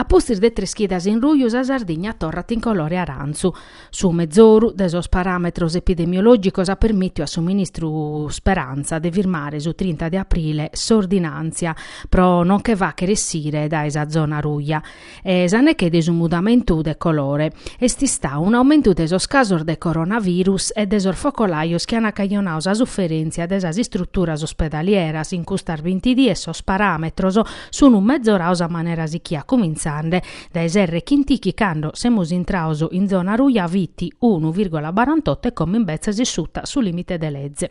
A pustis de tres chidas in ruju sa Sardigna torrat in colore arantzu. Su mezoru de sos paràmetros epidemiològicos at permìtiu a su ministru Speranza de firmare su trinta de aprile s'ordinàntzia pro nos nche fàchere essire dae sa zona ruja e sa neche de su mudamentu de colore est istau un'aumentu de sos casos de coronavirus e de sos focolajos chi an cajonau sa suferèntzia de sas istruturas ospedalieras in custas binti dies sos paràmetros Sunu mezoraus a manera sichia cumintzande dae s'erre chin ti chi cando semus intraus in zona ruja fit unu virgola barantoto e como imbetzes est suta su limite de leze.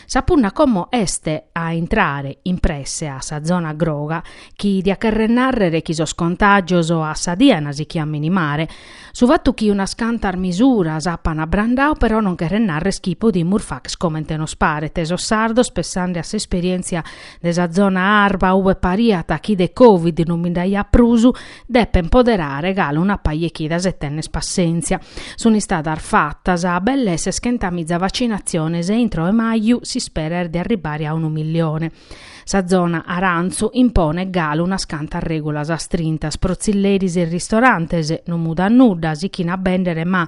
Sa punna como est a intrare in presse a sa zona groga chi diat cherrer narrer chi sos contagios a sa die an sichiu a minimare. Su fatu chi unas cantas misuras apan abrandau però non cheret narrer chi podimus fàcher comente nos paret, sos sardos pessande a s'esperientzia de sa zona arba ube pariat chi de Covid non bi nd'aiat prus, depen poderare galu una paja 'e chidas e tènner passèntzia. Sunt istadas fatas belle seschentamiza vacinatziones e intro 'e maju s'isperat de arribare a unu millione. Sa zona arantzu imponet galu unas cantas règulas astrintas pro tzilleris e ristorantes, non mudat nudda, sichin a bèndere ma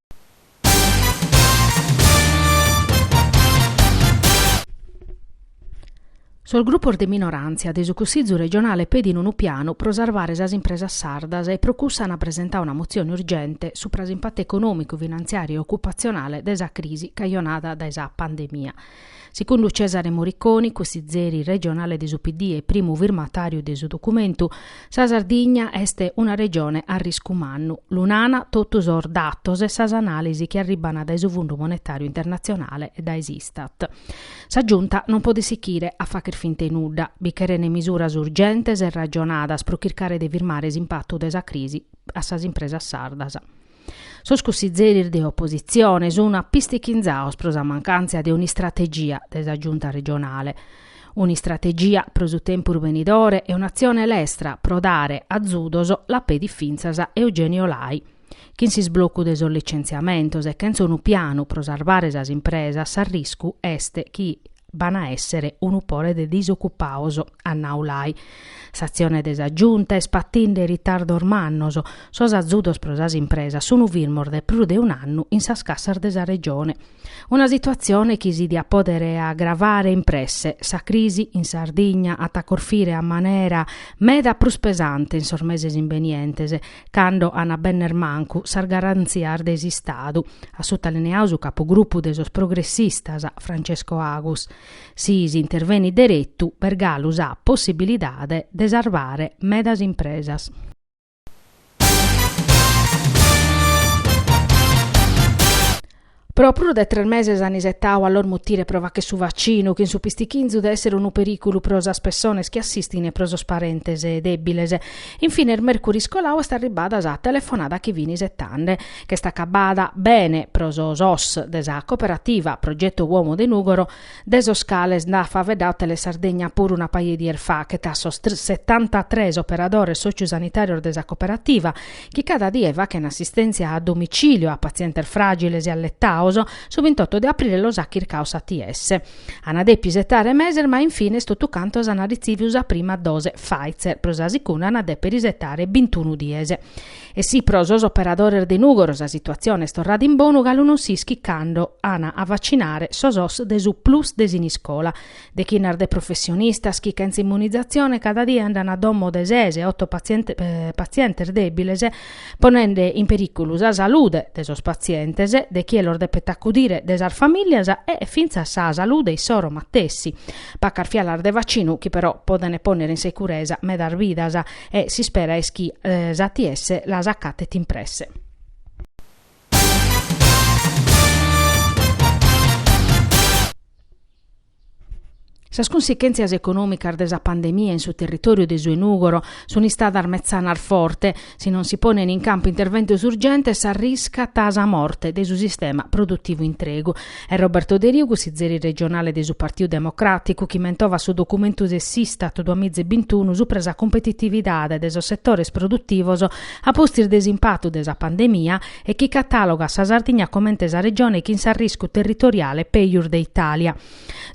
Sos grupos de minoràntzia de su Cussìgiu regionale pedin unu pianu pro sarvare sas impresas sardas e pro cussu ant presentau una motzione urgente supra s'impatu econòmicu, finantziàriu e ocupatzionale de sa crisi cajonada dae sa pandemia. Secundu Cesare Moriconi, cussizeri regionale de su PD e primu firmatàriu de su documentu, sa Sardigna est una regione a riscu mannu. Lu nana totu sos datos e sas anàlisi chi arribana dae su Fundu Monetàriu Internatzionale e dae s'Istat. Sa Giunta non podet sichire a facher fint'e nudda. Bi cherene misuras urgentes e ragionadas pro chircare de firmare s'impatu de sa crisi a sas impresas sardas. Sos cussizeris de opositzione sun apistichinzaus pro sa mancàntzia de un'istrategia de sa Giunta regionale, un'istrategia pro su tempus benidore e un'atzione lestra pro dare azudos, la pedit fintzas Eugenio Lai. Chin s'isblocu de sos licentziamentos e chentz'unu pianu pro sarvare sas impresas s'arriscu est chi, B'an a èssere unu pore de disocupaus, at nau Lai. S'atzione de sa Giunta est patinde ritardos mannos, sos azudos pro sas impresas sun firmos dae prus de un'annu in sas cassas de sa Regione. Una situatzione chi si diat pòdere agravare in presse. Sa crisi in Sardigna at a corfire a manera meda prus pesante in sos meses imbenientes cando an a benner mancu sas garantzias de s'Istadu, at sutalineadu su capogrupu de sos progressistas, Francesco Agus. Si s'intervenit deretu b'est galu sa possibilidade de sarvare medas impresas. Pro prus de tres meses an isetadu a los mutire pro fagher su vaccinu, chin su pistichinzu de essere unu periculu pro sas pessones chi assistin e pro sos parentes debiles. In fines mercuris coladu est arribbada sa telefonada chi fin isetande. Ch'est acabada bene pro sos os de sa cooperativa Progetto Uomo de Nugoro, de sos cales nd'at faeddadu Telesardegna puru una paia 'e dies fachet, a sos setantatres operadores sòciu-sanitàrios de sa coperativa, chi cada die fachent assistèntzia a domicìliu a patzientes fràgiles e alletados, su bintotto de aprile los at chircados s'ATS. Ant dèpidu isetare meses ma in fines totu cantos ant ritzìvidu sa prima dose Pfizer, pro sa segunda ant dèpere isetare bintunu dies. E si pro sos operadores de Nùgoro sa situatzione est torrada in bonu galu non s'ischit cando an a vacinare sos os de su Plus de Siniscola. Dechinnas de professionistas chi chentza immunizatzione cada die andan a domo de ses e oto patzientes dèbiles, ponende in perìculu sa salude de sos patzientes, de chie los depet acudire, de sas famìlias e fintzas sa salude issoro matessi. Pacas fialas de vacinu chi però podent pònnere in securesa medas vidas. E s'ispera est chi s'ATS las acatet in presse. Sas cunsichèntzias econòmicas de sa pandemia in su territòriu de su 'e Nùgoro sunt istadas metzanas forte. Si non si ponent in campu interventos urgentes, s'arriscat sa morte de su sistema produtivu intregu. Est Roberto Deriu, cussizeri regionale de su Partiu Democràticu, chi mentovat su documentu de s'Istat duamiza e bintunu subra sa cumpetitividade de sos setores produtivos a pustis de s'impatu de sa pandemia e chi catàlogat sa Sardigna comente sa regione chin s'arriscu territoriale pejus de Itàlia.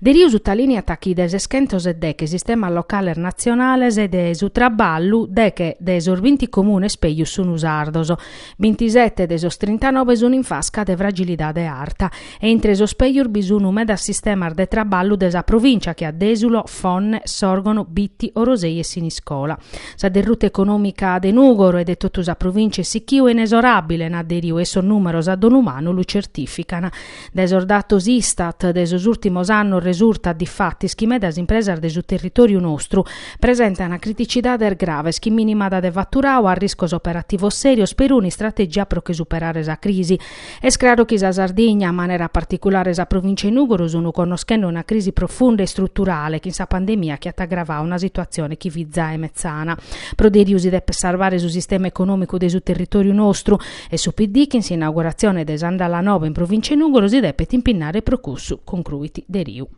Deriu sutalìniat chi de ses chentos e deghe sistemas locales natzionales de su traballu, deghe de sos binti comunes pejus sun sardos. Bintisete de sos trintanobe sun in fasca de fragilidade arta e intre sos pègius bi sun medas sistemas de traballu de sa provìncia che a Dèsulo, Fonne, Sòrgono, Bitti, Orosei e Siniscola. Sa derruta econòmica de Nùgoro e de totu sa provìncia est sichiu e inesoràbile, nat Deriu e sos nùmeros a donu manu lu certìficant. Dae sos datos Istat de sos ùrtimos annos resurtat difatis chi medas impresas de su territòriu nostru presentant criticidades graves chin minimada de faturadu, arriscos operativos sèrios, peruna istrategia pro che superare sa crisi. Est craru chi sa Sardigna, a manera particulare sa provìncia 'e Nùgoro, sunt connoschende una crisi profunda e istruturale chin sa pandemia chi at agravadu una situatzione chi fit zae metzana. Pro Deriu si depet sarvare su sistema econòmicu de su territòriu nostru E su PD chin s'inauguratzione de s'àndala nova in Provìncia 'e Nùgoro si depet impinnare pro cussu, concruit Deriu.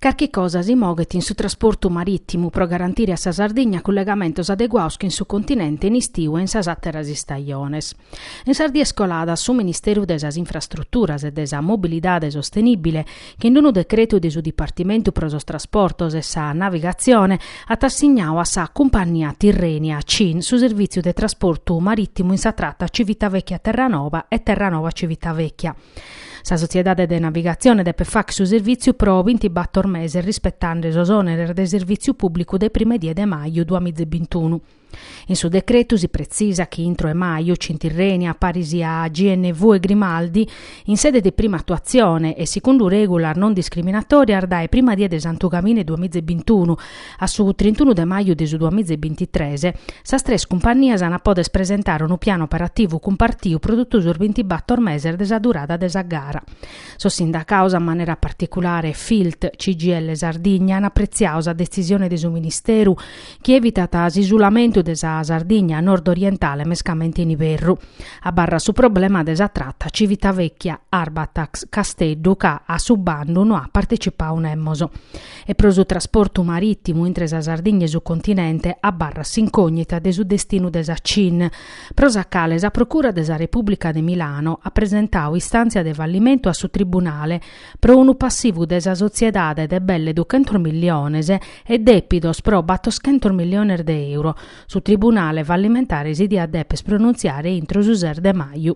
Carchi cosa si moghet in su trasportu marìtimu pro garantire a sa Sardigna cullegamentos adeguados chin su continente in istiu e in sas àteras istajones. In sas dies coladas su Ministeru de sas Infrastruturas e de sa Mobilidade Sostenìbile chin unu decretu de su Dipartimentu pro sos Trasportos e sa Navigatzione at assignadu a sa cumpannia Tirrenia CIN su servìtziu de trasportu marìtimu in sa trata Civitavecchia-Terranova e Terranova-Civitavecchia. Sa sotziedade de navigatzione depet fagher su servìtziu pro bintibator meses rispetende sos òneres de servìtziu pùblicu dae prima die de maju duamiza e bintunu. In su decretu si pretzisat chi intro 'e maju CIN Tirrenia, paris a GNV e Grimaldi, in sede de prima atuatzione e segundu règulas non discriminatòrias dae prima die de Santu Camine duamiza e bintunu a su trintunu de maju de su duamiza e bintitres, sas tres cumpannias ant a pòdere presentare unu pianu operativu cumpartiu pro totu sos bintibator meses de sa durada de sa gara. Sos sindacados, a manera particulare Filt CGIL Sardigna, ant apretziadu sa detzisione de su Ministeru chi evitat s'isulamentu de sa Sardigna nordorientale mescamente in iberru. Abarrat su problema de sa trata Civitavecchia, Arbatax, Casteddu ca a su bandu no at partecipadu nemos. E pro su trasportu marìtimu intre sa Sardigna e su continente abarrat s'incògnita de su destinu de sa CIN, pro sa cale sa Procura de sa Repùblica de Milano at presentadu istàntzia de fallimentu a su tribunale, pro unu passivu de sa sotziedade de belle duchentos milliones e dèpidos pro battoschentos milliones de euro, su tribunale fallimentare si diat dèpere pronuntziare intro su ses de maju.